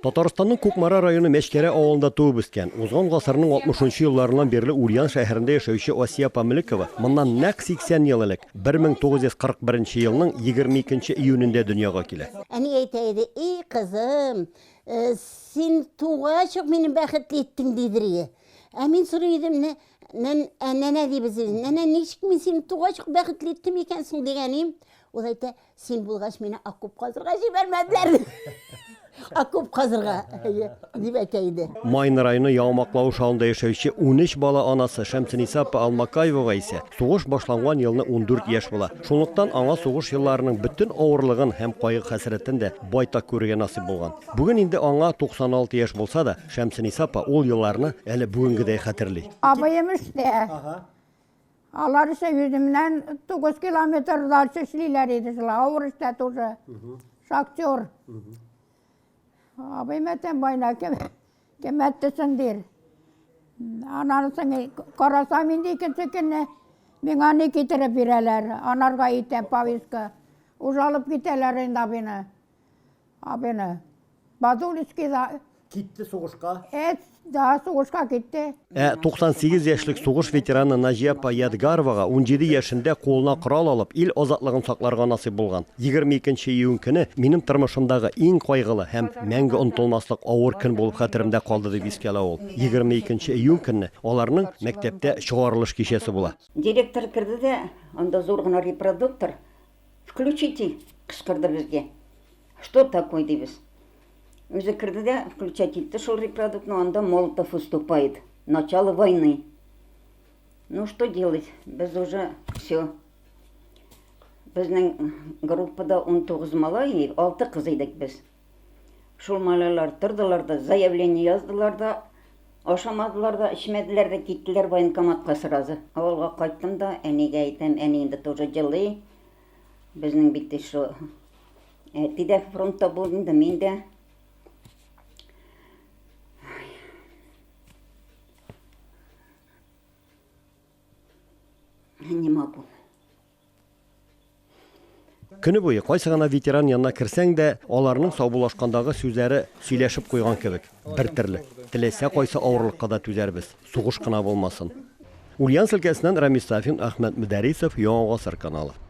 Татарстанның Кукмара районы Мәчкәрә авылында туып үскән, узган гасырның 60 нчы елларыннан бирле Ульян шәһәрендә яшәүче Асия апа Мөлекова моннан нәкъ 80 ел элек, 1941 елның 22 нче июнендә дөньяга килә. Әни әйтә иде, И кызым, син тугач ук мине бәхетле иттең, дидер иде. Ә мин сорый идем, Нәнә, дибез без, нәнә, ничек мин сине тугач ук бәхетле иттем икән соң, дигәнем, ул әйтә, Син булгач, мине окоп казырга җибәрмәделәр. Окоп казырга, әйе, дип әйтә иде. Майны районы Яумаклау шавында яшәүче 13 бала анасы Шәмсениса апа Алмакаевага исә сугыш башланган елны 14 яшь була. Шунлыктан аңа сугыш елларының бөтен авырлыгын һәм кайгы-хәсрәтен дә байтак күрергә насыйп булган. Бүген инде аңа 96 яшь булса да, Шәмсениса апа ул елларны әле бүгенгедәй хәтерли. Абыем эштә. Алар исә үземнән 9 километр дальше эшлиләр иде шул, авыр эштә тоже. Шахтер. Абый мәтән байна кем кем әттесен дир. Анан соң карасам инде икенче көнне миңа ни китереп бирәләр, анарга итә повестка. Уже алып китәләр инде абыйны. Абыны. Бадулицкий да. Китте сугышка. Эт, да, сугышка китте. Ә 98 яшьлек сугыш ветераны Наҗия апа Ядгаровага 17 яшендә кулына корал алып, ил азатлыгын сакларга насыйп булган. 22 июнь көне минем тормышымдагы иң кайгылы һәм мәңге онытылмаслык авыр көн булып хәтеремдә калды, дип искә ала ул. 22 июнь көнне аларның мәктәптә чыгарылыш кичәсе була. Директор керде дә, анда зур гына репродуктор, Включитель! кычкырды безгә. Что такое дибез. Үзе керде дә включать итте шул репродуктны, анда Молотов выступает. Начало войны. Ну что делать? Без уже все. Безнең группада 19 малай, 6 кыз идек без. Шул малайлар тордылар да, заявление яздылар да, ашамадылар да, эчмәделәр дә, киттеләр военкоматка сразу. Авылга кайттым да, әнигә әйтәм, әни инде тоже җылый. Безнең бит шо әти дә фронтта булды инде, мин дә. Не могу. Көне буе кайсы гына ветеран янына керсәң дә, аларның саубуллашкандагы сүзләре сөйләшеп куйган кебек, бер терлек. Теләсә кайсы авырлыкка да түзәрбез, сугыш кына булмасын. Ульяновск өлкәсеннән Рамис Сафин, Әхмәт Мөдәрисов, Яңа гасыр каналы.